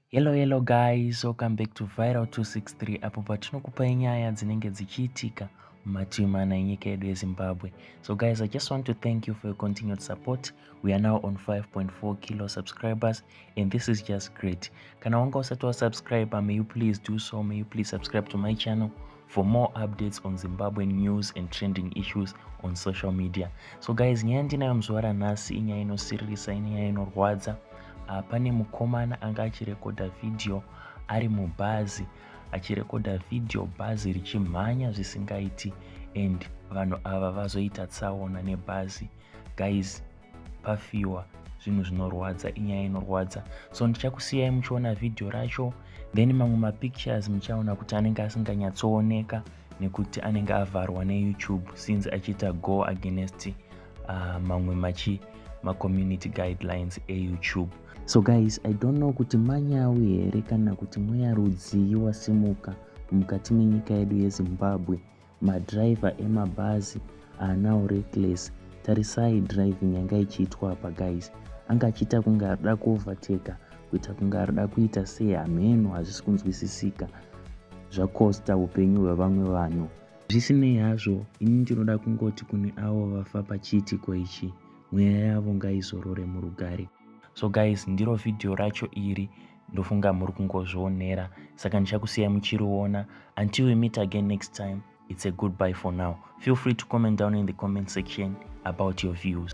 hello hello guys welcome back to viral 263 apo patinokupai nyaya dzinenge dzichiitika mumativi mana enyika yedu yezimbabwe so guys i just want to thank you for your continued support we are now on 5.4 kilo subscribers and this is just great kana wanga usati wasubscribe may you please do so may you please subscribe to my channel for more updates on zimbabwean news and trending issues on social media so guys nyaya ndinayo muzuva ranhasi inyaya inosiririsa inyaya inorwadza ah, pane mukomana anga achirekodha vhidhiyo ari mubhazi achirekodha vhidhiyo bhazi richimhanya zvisingaiti and vanhu ava vazoita tsaona nebhazi guys pafiwa zvinhu zvinorwadza inyaya inorwadza so ndichakusiyai muchiona vhidhiyo racho then mamwe mapictures muchaona kuti anenge asinganyatsooneka nekuti anenge avharwa neyoutube since achiita go against uh, mamwe machi macommunity guidelines eyoutube so guys i don't know kuti manyawi here kana kuti mweya rudzii wasimuka mukati menyika yedu yezimbabwe Madriver emabhazi haanawo reckless tarisai driving yanga ichiitwa apa guys anga achiita kunge arida kuovertaker kuita kunge arida kuita sei hameno hazvisi kunzwisisika zvakosta upenyu hwevamwe vanhu zvisinei hazvo ini ndinoda kungoti kune avo vafa pachiitiko ichi mweya yavo ngaizorore murugare so guys ndiro vhidhiyo racho iri ndofunga muri kungozvionera saka ndichakusiyai muchiriona until we meet again next time it's a goodbye for now feel free to comment down in the comment section about your views